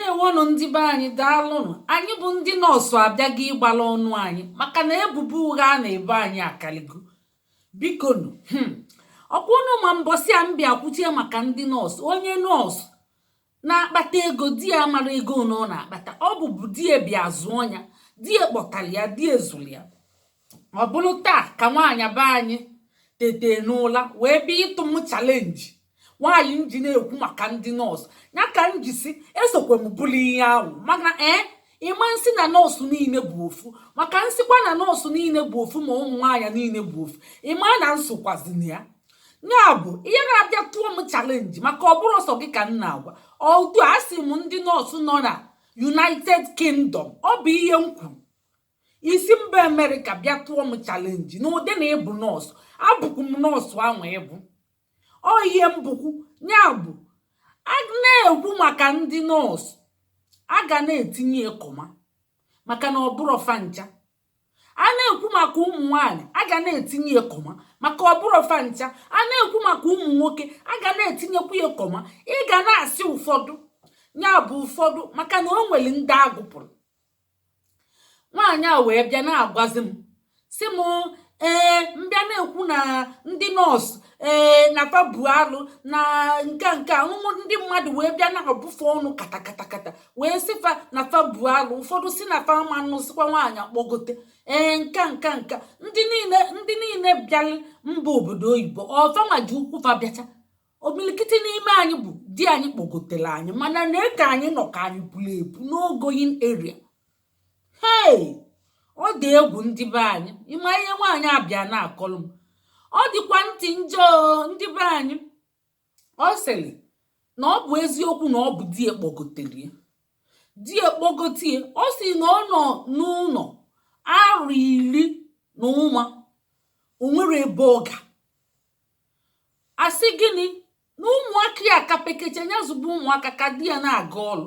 ndewonụ ndị be anyị daalụnụ anyị bụ ndị nọọsụ abịaghị ịgbala ọnụ anyị maka na ebubo ụgha a na-ebo anyị akaligo bikonu hmm. ọkwa ụnụ ma mbọsị a m bịa kwuchie maka ndị nọọsụ onye nọọsụ na-akpata ego di ya amarọ ego one ọ na-akpata ọ bụbu di ya bịa zụọ ya di ya kpọtara ya di ya zụrụ ya ọ bụrụ taa ka nwaanyị be anyị tete n'ụla wee bịa ịtụ m chalenji nwaanyị m ji na-ekwu maka ndị nọọsụ ya ka m ji sị esokwa m bụrụ ihe ahụ mana ee eh, ị ma m sị na nọọsụ niile bụ ofu maka m sịkwa na nọọsụ niile bụ ofu ma ụmụ nwaanyị niile bụ ofu ị ma na m sokwazi na ya ya bụ ihe na-abịa tụọ m chalenji maka ọ bụrọ sọ gị ka m na-agwa ọdụ asị m ndị nọọsụ nọ na united kingdom ọ bụ ihe m kwuru i si mba amerịka bịa tụọ m chalenji n'ụdị na ị bụ nọọsụ abụkwu m nọọsụ ahụ ị bụ ọ ihe m bụkwu ya bụ a na-ekwu maka ndị nọọsụ a ga na-etinye ya kọma maka na ọ bụrọ fa ncha a na-ekwu maka ụmụ nwaanyị a ga na-etinye ya kọma maka ọ bụrọ fa ncha a na-ekwu maka ụmụ nwoke a ga na-etinyekwu ya kọma ị ga na-asị ụfọdụ ya bụ ụfọdụ maka na o nwere ndị a gụpụrụ nwaanyị a wee bịa na-agwazi m sị m ee m bịa na-ekwu na ndị nọọsụ ee na fa bụ alụ na nke nke anụmụ ndị mmadụ wee bịa na-abụ fa ọnụ katakatakata wee sị fa na fa bụ alụ ụfọdụ sị na fa ma nụsịkwa nwaanyị akpọgote ee nka nka nka ndị niile ndị niile bịara mba obodo oyibo ọ fa nwa ji ụkwụ fa bịacha omilikiti n'ime anyị bụ di anyị kpọgotere anyị mana na eke anyị nọ ka anyị buru ebu no going area hei ọ dị egwu ndị be anyị ị ma ihe nwaanyị a bịa na-akọlụ m ọ dịkwa ntị njọ ndị be anyị ọ sịrị na ọ bụ eziokwu na ọ bụ di ya kpọgotere ya di ya kpọgote ya ọ sị na ọ nọ n'ụlọ arọ iri na ụma o nwerọ ebe ọ ga a sị gịnị na ụmụaka ya ka pekecha ya zụba ụmụaka ka di ya na-aga ọrụ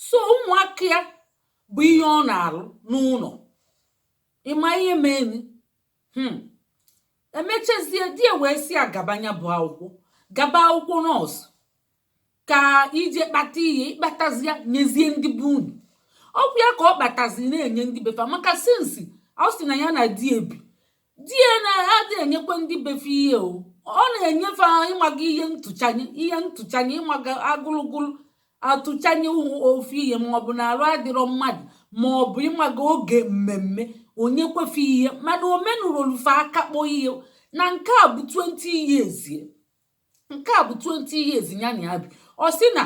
sọ ụmụaka ya bụ ihe ọ na-alụ n'ụlọ ị ma ihe meni hmm. e mechazie di ya wee sị ya gaba nya bụ akwụkwọ gaba akwụkwọ nọọsụ ka i je kpata ihe ị kpatazie ya nyezie ndị be unu ọ kwa ya ka ọ kpatazi na-enye ndị be fa maka since ọ sị na ya na di ya bi di ya na-adị enyekwa ndị be fa ihe o ọ na-enye fa ịmaga ihe ntụchanye ihe ntụchanye ịmaga agụlụgụlụ atụchanye ofu ihe maọbụ na arụ adịrọ mmadụ maọbụ ịmaga oge mmemme o nyekwa fa ihe mana o menurọlụ fa ihe a ka akpọ ihe na nke a bụ 20 years nke a bụ 20 years ya na ya bi ọ sị na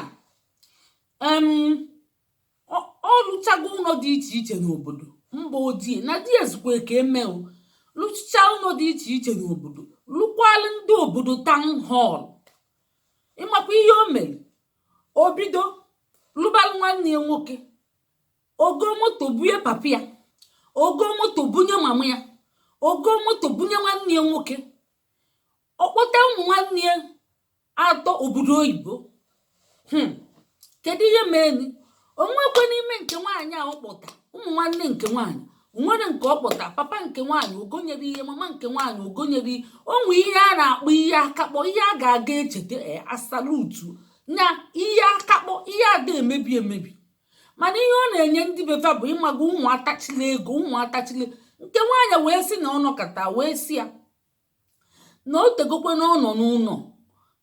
ọ lụchago ụlọ dị iche iche n'obodo mba ojii na di ezukwa ka emeo lụchaa ụlọ dị iche iche n'obodo lụkwalụ ndị obodo town hall ị makwa ihe o mere o bido lụbalụ nwanne ya nwoke o goo moto bunye papa ya o goo moto bunye mama ya o goo moto bunye nwanne ya nwoke ọ kpọta ụmụ nwanne ya atọ obodo oyibo hmm. kedu ihe meeni o nwekwe n'ime nke nwaanyị a ọ kpọta ụmụ nwanne nke nwaanyị nwere nke ọ kpọta papa nke nwaanyị o gonyere ihe mama nke nwaanyị o gonyere ihe o nwe ihe a na-akpọ ihe akakpọ ihe a ga na-echeta e, asalutu na ihe akakpọ ihe a da-emebi emebi mana ihe ọ na-enye ndị be fa bụ ị maga ụmụ atachila ego ụmụ atachila nke nwaanyị wee sị na ọ nọkata wee sị ya na o tegokwanụ ọ nọ n'ụnọ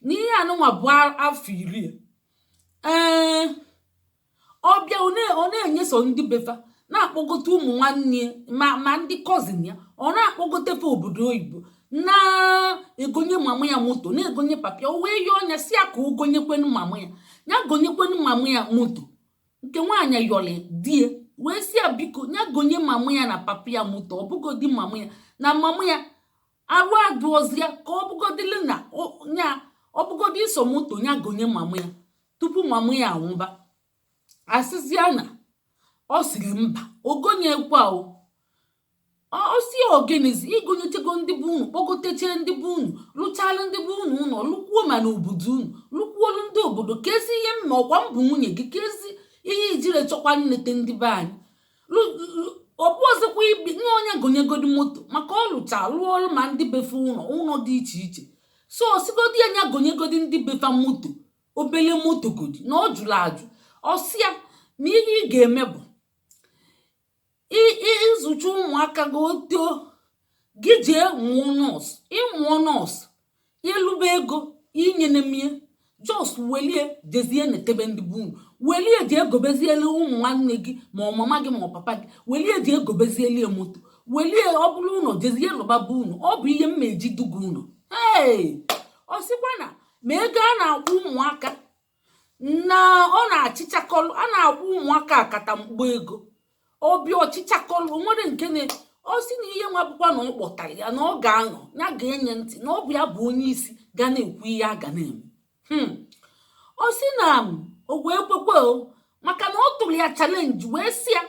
na ihe anụnwa bụ afọ iri e eee ọ bịa ọ na-enye sọ ndị be fa na-akpọgote ụmụ nwanne ya ma ndị cousin ya ọ na-akpọgote fa obodo oyibo na-egonye mama ya moto na-egonye papa ya o wee yọọ nya sị ya ka o gonyekwanụ mama ya ya gonyekwanụ mama ya moto nke nwaanyị yọlị di ya wee sị ya biko ya gonye mama ya na papa ya moto ọ bụgodi mama ya na mama ya arụ adịrọzi ya ka ọ bụgodili na ya ọ bụgodi sọ moto ya gonye mama ya tupu mama ya anwụba a sịzịa na ọ sịrị mba o gonyekwa o ọ sị ya ọ gịnịzi i gonyechago ndị be unu kpọgotechaa ndị be unu lụchalụ ndị be unu ụlọ lụkwuo ma n'obodo unu lụkwuolu ndị obodo keezi ihe m mee ọ kwa m bụ nwunye gị keezi ihe i jirọ chọkwa nleta ndị be anyị ọ bụ ọzọkwa ibi nye onye gonyegodi moto maka ọ lụcha lụọ ọrụ ma ndị be fa ụlọ ụlọ dị iche iche so ọ sịgodi ya nya gonyegodi ndị be fa moto obele moto godi na ọ jụrụ ajụ ọ sị ya na ihe ị ga-eme bụ ị zụchaa ụmụaka gị oto gị jee mụọ nurse ị mụọ nurse ị lụba ego inyenemie just welie jezie netebe ndị be unu welie jee gobeziele ụmụ nwanne gị ma ọ mama gị ma ọ papa gị welie jee gobeziele ya moto welie ọ bụrụ ụlọ jezie lụba be unu ọ bụ ihe m ma eji duga unu ee ọ sịkwa na ma ego a na-akwụ ụmụaka na ọ na-achịchakọlụ a na-akwụ ụmụaka akata mkpọ ego ọ bịa ọ chịchakọlụ o nwere nke na ọ sị na ihe nwa bụkwa na ọ kpọtara ya na ọ ga-anọ ya ga-enye ntị na ọ bụ ya bụ onye isi ga na-ekwu ihe a ga na-eme Hmm. ọ sị na o wee kwekwe o maka na ọ tụrụ ya challenge wee sị ya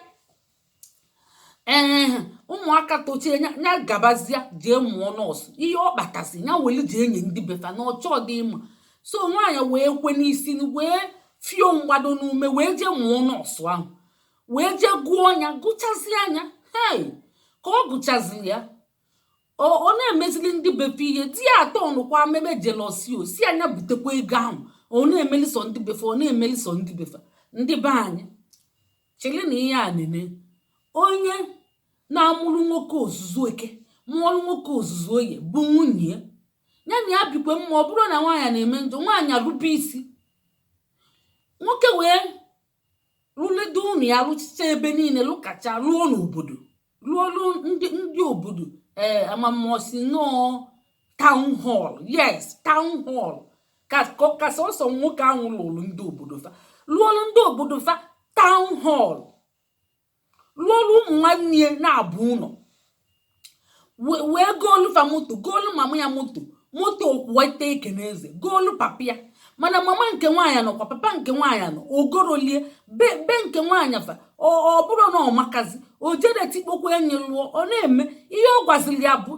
ee ụmụaka tochie ya ya gabazịa jee mụọ nọọsụ ihe ọ kpatasị ya welu jee nye ndị befa na ọchọ dị mma so nwaanyị wee kwe n'isi n- wee fio mgbado n'ume wee jee mụọ nọọsụ ahụ wee jee gụọ ya gụchazie nya hei ka ọ gụchaziri ya ọ ọ na-emezili ndị befe ihe di ya atọ ọnụkwa mebe jealousy ọ sị nya butekwa ego ahụ ọ na-emeli sọ ndị befe ọ na-emeli sọ ndị befe ndị be anyị chele na ihe a nene onye na-amụrụ nwoke ozuzu eke mụọrụ nwoke ozuzu oye bụ nwunye ya ya na ya bikwe mma ọ bụrụ na nwaanyị na-eme njọ nwaanyị erube isi nwoke wee rụlide ụnọ ya rụchịcha ebe niile lụkacha rụọ n'obodo lụọlụ ndị ndị obodo ee eh, ama m ọ sị na ọ town hall yes town hall ka sọsọ nwoke ahụ lụrụ ndị obodo fa lụọlụ ndị obodo fa town hall lụọlụ ụmụ nwanne ya naabọ ụnọ wee goolu fa moto goolu mama ya moto moto ọkwụ ọtọ ekene eze goolu papa ya mana mama nke nwaanyị nọkwa papa nke nwaanyị nọ o gorolie be nke nwaanyị fa ọ bụrụ na ọ makazi o jere tikpokwa enyi lụọ ọ na-eme ihe ọ gwaziri ya bụ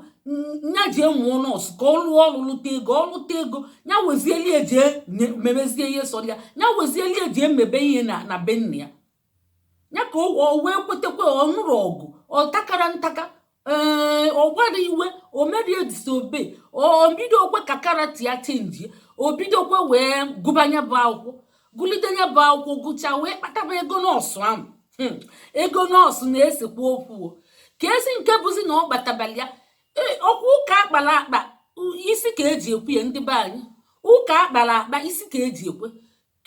nya jee mụọ nọọsụ ka ọ lụọ ọrụ lụta ego ọ lụta ego ya wezielie jee mebezie ihe sọrọ ya ya wezielie jee mebe ihe na na be nna ya ya ka o wee kwetakwa ọ nụrụ ọgụ ọ takara ntaka ee ọ gbara iwe o merie disobey o bidokwe ka character ya chenjie o bidokwe wee gụba nya bụ akwụkwọ gụlide nya bụ akwụkwọ gụchaa wee kpataba ego nọọsụ ahụ hmm, ego nọọsụ na-esekwa okwu kezi nke bụzi na ọ kpatabala ya e, ọ kwa ụka akpara akpa isi ka eji ekwe ya ndị be anyị ụka akpara akpa isi ka eji ekwe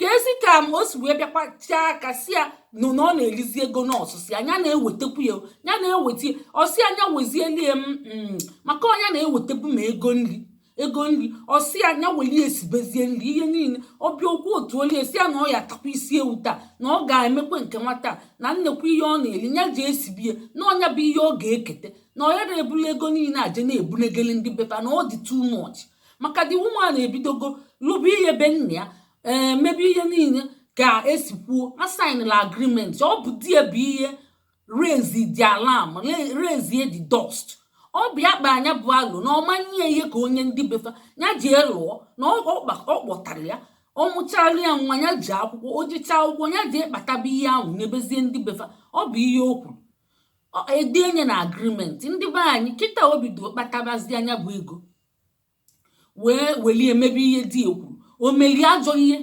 kezi ka m o si wee bịakwa chaa aka sị ya na na ọ na-erizi ego nọọsụ sị nya na-ewetekwu ya ya na-eweta ọ sị nya wezielie m mm, maka ọ nya na-ewetebu ma ego nri ego nri ọ sị nya welie esibezie nri ihe niile ọ bịakwu otu olie sị ya na ọ ya atakwa isi ewu taa na ọ ga-emekwa nke nwata na nnekwu ihe ọ na-eri ya ji esibie na ọ nya bụ ihe ọ ga-ekete na ọ ya na-ebuli ego niile aje na-ebunegeli ndị befa na ọ dị too much maka the woman ebidogo lụba ihe be nna ya ee mebe ihe niile ka e si kwuo a sainla agreement ọ bụ di ya bụ ihe raise the alarm le- raise ye the dust ọ bụ ya kpa nya bụ alụ na ọ ma nye ihe ka o nye ndị befa ya jee lụọ na ọ ọ kpa- ọ kpọtara ya ọ mụchara ya nwa ya jee akwụkwọ o jechaa akwụkwọ ya jee kpataba ihe ahụ nyebezie ndị befa ọ bụ ihe o kwuru Ọ- e denye na agreement ndị be anyị kịta o bido kpatabazia nya bụ ego wee welie mebe ihe di ya kwuru o meli ajọ ihe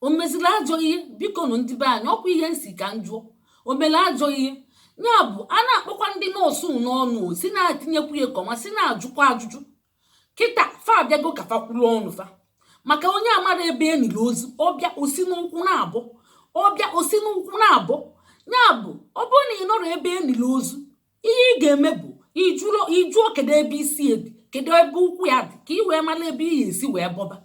o mezili ajọ ihe biko nụ ndị be anyị ọkwa ihe m sị ka m jụọ o meli ajọ ihe ya bụ a na-akpọkwa ndị nọọsụ n'ọnụ si na-etinyekwu ya kọma si na-ajụkwa ajụjụ kịta fa abịago ka fa kwuru ọnụ fa maka onye amarọ ebe e nili ozu ọ bịa o si n'ụkwụ na-abọ ọ bịa o si n'ụkwụ na-abọ ya bụ ọ bụrụ na ị nọrọ ebe e nili ozu ihe ị ga-eme bụ ị jụọ kedu ebe isi ya dị kedu ebe ụkwụ ya dị ka ị wee mara ebe ị ga-esi wee bọba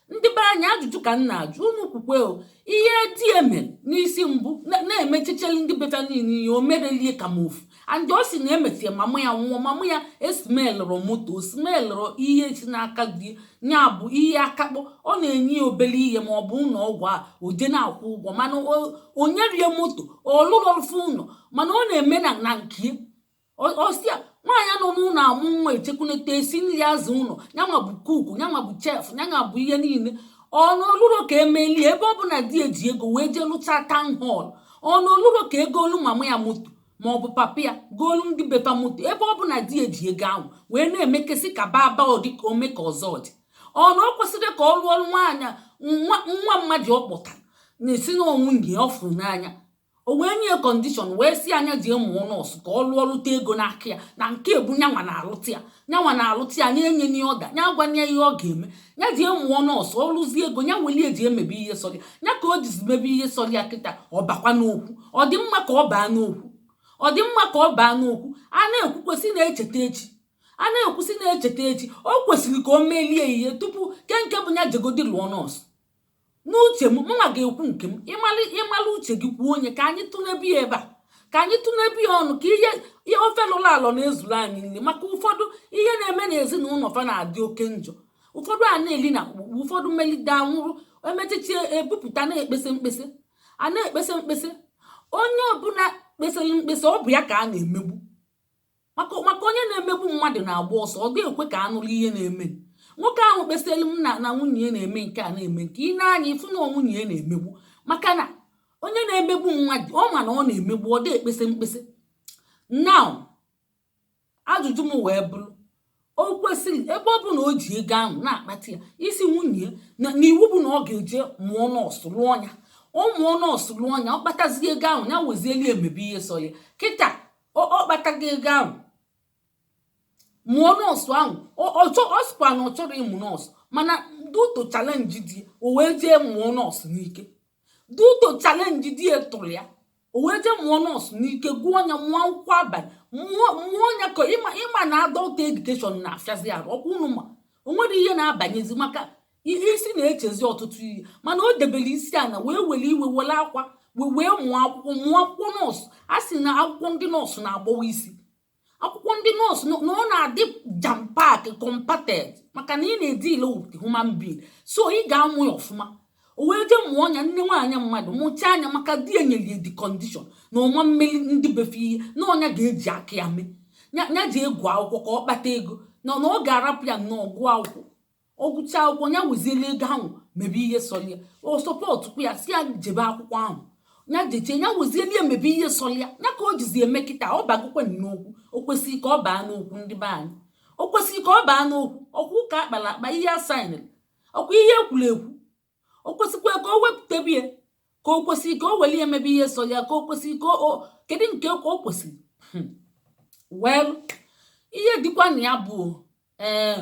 ndị be anyị ajụjụ ka m na-ajụ unu kwukwe o ihe di ya mere n'isi mbụ na- na-emechecheli ndị be fa niile ihe o merelie ka m ofu and ọ sị na e mesịa mama ya nwụọ mama ya esimelụrụ moto o simelụrụ ihe si n'aka di ya bụ ihe akakpọ ọ na-enye ya obere ihe ma ọ bụ ụlọ ọgwụ a o jee na-akwụ ụgwọ mana o nyerọ ya moto ọ lụrọ fa ụlọ mana ọ na-eme na na nke ya ọsịa nwaanyị nọ n'ụlọ amụ nwa eche eku enete esi nri aza ụlọ nyanwa bụ cook nyanwa bụ chef nyanwa bụ ihe niile ọ na o luro ka e meli ebe ọ bụ na di ya ji ego wee jee lụta town hall ọ na o luro ka e goolu mama ya moto ma ọ bụ papa ya goolu ndị be fa moto ebe ọ bụ na di ya ji ego ahụ wee na-emekesị ka baba ọ dị ka ome ka ọzọ dị ọ na o kwesịrọ ka ọ lụọlụ nwaanyị nwa nwa mmadụ ọ kpọtara n'isi na ọ nwunye ọ fụrụ n'anya o wee nye ya condition wee sị ya nya jee mụọ nọọsụ ka ọ lụọ lụta ego n'aka ya na nke bụ nyanwa na-alụta ya nyanwa na-alụta ya na-enye nye order nya gwa nye ihe ọ ga-eme nya jee mụọ nọọsụ ọ lụzie ego nya welie jee mebe ihe sọrọ ya nya ka o jizi mebe ihe sọrọ ya kịta ọ bakwa n'okwu ọ dị mma ka ọ baa n'okwu ọ dị mma ka ọ baa n'okwu a na-ekwukwa sị na-echeta echi a na-ekwu sị na-echeta echi o kwesịrị ka o melie ihe tupu kee nke bụ nya jegodi lụọ nọọsụ n'uche m mụnwa ga-ekwu nke m ị mala ị mala uche gị kwuo onye ka anyị tụnebe ya ebe a ka anyị tụnebe ya ọnụ ka ihe ihe ofe lọrọ alọ na-ezuru anyị nri maka ụfọdụ ihe na-eme n'ezinụlọ fa na-adị oke njọ ụfọdụ a na-eli na akpụkpụ ụfọdụ melite anwụrụ emechichi ebupụta na-ekpesa mkpesa a na-ekpesa mkpesa onye ọbụla kpesara mkpesa ọ bụ ya ka a na-emegbu maka maka onye na-emegbu mmadụ na-agba ọsọ ọ da-ekwe ka a nụrụ ihe na-eme nwoke ahụ kpesara m na na nwunye ya na-eme nke a na-eme nke i nee anya ị fụ na nwunye ya na-emegbu maka na onye na-emegbu mmadụ ọ ma na ọ na-emegbu ọ da-ekpesa mkpesa now ajụjụ m wee bụrụ o kwesịrị ebe ọ bụ na o ji ego ahụ na-akpata ya asị nwunye ya na iwu bụ na ọ ga-eje mụọ nọọsụ lụọ ya ọ mụọ nọọsụ lụọ ya ọ kpatazie ego ahụ ya wezieli emebe ihe sọ ya kịta ọ ọ kpatago ego ahụ mụọ nọọsụ ahụ ọ ọ chọ- ọ sịkwa na ọ chọrọ ịmụ nọọsụ mana duto chalenji di ya, o wee jee mụọ nọọsụ n'ike duto chalenji di ya tụrụ ya o wee jee mụọ nọọsụ n'ike gụọ ya mụọ akwụkwọ abalị mụọ mụọ ya ka ịma ịma na adọlt edukeshọn na-afịazi arụ ọkwa unu ma o nwere ihe na-abanyezi maka ihe isi na-echezi ọtụtụ ihe mana o debere isi ana wee were iwe were akwa wee wee mụọ akwụkwọ mụọ akwụkwọ nọọsụ a sị na akwụkwọ ndị nọọsụ na-agbawa isi akwụkwọ ndị nọọsụ na ọ na-adị jam pak kọmpated maka na ị na-edile with human being so ị ga-amụ ya ọfụma o wee jee mụọ nya nne nwaanyị mmadụ mụchaa nya maka di ya nyere ya di kọndishọn na ọ ma emere ndị be fa ihe na ọ nya ga-eji aka ya mee ya jee gụọ akwụkwọ ka ọ kpata ego na ọ ga-arapụ ya nnọọ gụọ akwụkwọ ọ gụchaa akwụkwọ ya wezili ego ahụ mebe ihe sọrọ ya ọ sọpọtụkwa ya sị ya jebe akwụkwọ ahụ ya jechee ya wezielie mebe ihe sọrọ ya ya ka o jizi eme kịta ọ bagokwe n'okwu o kwesịrị ka ọ baa n'okwu ndị be anyị o kwesịrị ka ọ baa n'okwu ọkwa ụka a kpara akpa ihe a saịnịrị ọkwa ihe e kwuru ekwu o kwesịkwa ka o wepụtabe ya ka o kwesịrị ka o welie mebe ihe so ya ka o kwesịrị ka o kedu nke ka o kwesịrị hmm. wel ihe dịkwa na ya bụ ee eh,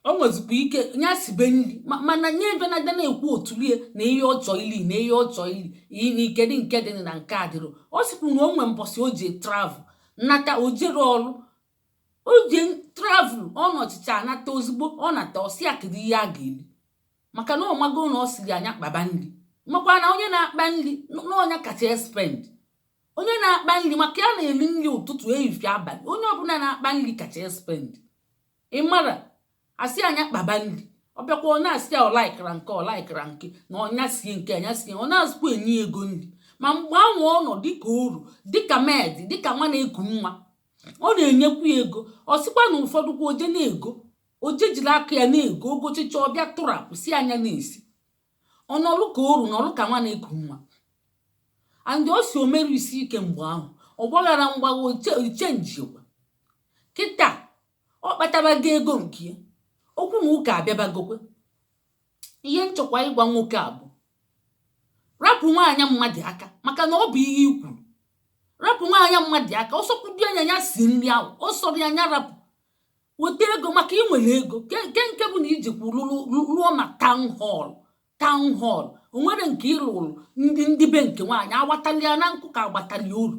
o nwezikwa ike ya sibe nri mana nye ebe na na-ekwu otulie na ihe ọ chọ ili na ihe ọ chọ ili na ike dị nke dị na nke adịrọ ọ sịkwu na o nwe mbọsị o ji travel nata o jere ọrụ o je travel ọ nọchịcha anata ozugbo ọ nata ọ sị ya kedu ihe a ga-eri maka na ọ mago na ọ sịrị nya kpaba nri makwa na onye na-akpa nri na ọ nya kacha espend onye na-akpa nri maka ya na-eri nri ụtụtụ ehihie abalị onye ọbụla na-akpa nri kacha espend ị mara a sị nya kpaba nri ọ bịakwa ọ na-asị ya ọ laịkịrọ nke ọ laịkịrọ nke na ọ nya sie nke a nya sie ọ nazịkwa enye ego nri ma mgbe anwa ọ nọ dịka oru dịka med dịka nwa na-eku nwa ọ na-enyekwu ya ego ọ sịkwa na ụfọdụ kwa o je na-ego o je jiri aka ya na-ego o gochicha ọ bịa tụrapụ sị nya na-esi ọ nọlụ ka oru nọlụ ka nwa na-eku nwa andị ọ sị o mero isi ike mgbe ahụ ọ gbagharọ mgbagha o chenjiekwa kịta ọ kpatabago ego nke ya okwu na ụka abịabagokwe ihe m chọkwa ịgwa nwoke a bụ rapụ nwaanyị mmadụ aka maka na ọ bụ ihe i kwuru rapụ nwaanyị mmadụ aka ọ sọkwudị ya nya sie nri ahụ ọ sọrọ ya nya rapụ weta ego maka i nwere ego ke nke nke bụ na i jikwu lụrụ- lụ- lụọ ma taụn họl taụn họl o nwere nke ị lụrụ ndị ndị be nke nwaanyị a kpatalị ya na nkụ ka a gbatalị oru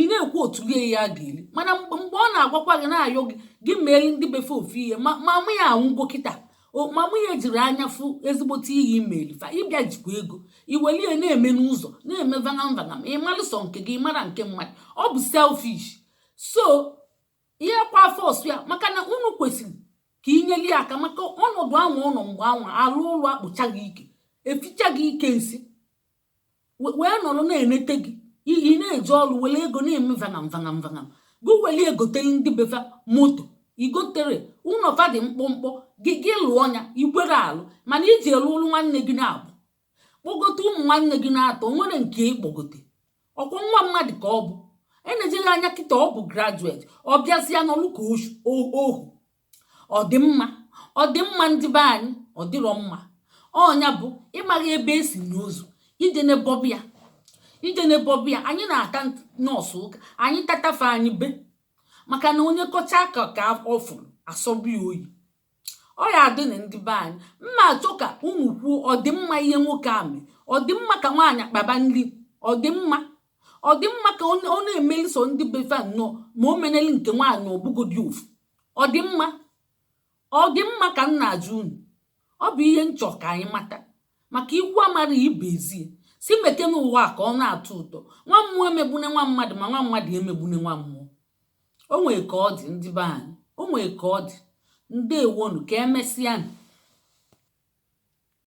ị na-ekwu otu ihe ya ga-eri mana mgbe mgbe ọ na-agwakwa gị na-ayọ gị gị meere ndị befa ofu ihe mama mụ ya anwụgo kịta o- ma mụ ya jiri anya fụ ezigbote ihe imeere fa ịbịa jikwa ego iwere ihe na-eme n'ụzọ na-eme vagam vagam ị mara sọ nke gị ị marọ nke mmadụ ọ bụ selfish so ihe kwa afọ ọsụ ya maka na unu kwesịrị ka inyere ya aka maka ọnọdụ anwa ụlọ mgbe anwa alụ ụlọ akpụcha gị ike eficha gị ike nsị wee nọrọ na-enete gị ị na-eje ọrụ were ego na-eme vagam vagam vagam gị were egotele ndị befa moto igotero ụlọ fa dị mkpụmkpụ gị gị lụọ ya ikwero alụ mana iji elu ụlụ nwanne gị naabọ kpọgote ụmụ nwanne gị na-atọ nwere nke ịkpọgote ọkwa nwa mmadụ ka ọ bụ enejeghị anya kịta ọ bụ graduate ọ bịazịa nọlụ ka ohu ọ dị mma ọ dị mma ndị be anyị ọ dịrọ mma ọ nya bụ ịmaghị ebe esi nie ozu ije n'ebọbụ ya ije n'ebọbụ ya anyị na-ata nọọ sọ ụka anyị tatafe anyị be maka na onye kọcha ka ka ọ fụrụ asọbi oyi ọ ya adị na ndị be anyị mma achọ ka unu kwuo ọ dị mma ihe nwoke a mee ọ dị mma ka nwaanyị akpaba nri ọ dị mma ọ dị mma ka ọ na-emeli sọ ndị befa nnọọ ma o meneli nke nwaanyị ọ bụgodi ofu ọ dị mma ọ dị mma ka m na-ajụ unu ọ bụ ihe m chọrọ ka anyị mata maka ikwu amara ibe ezie sị mekene ụwa a ka ọ na-atọ ụtọ nwa mmụọ emegbune nwa mmadụ ma nwa mmadụ emegbune nwa mmụọ o nwere ka ọ dị ndị be anyị o nwere ka ọ dị ndewonu ka emesịa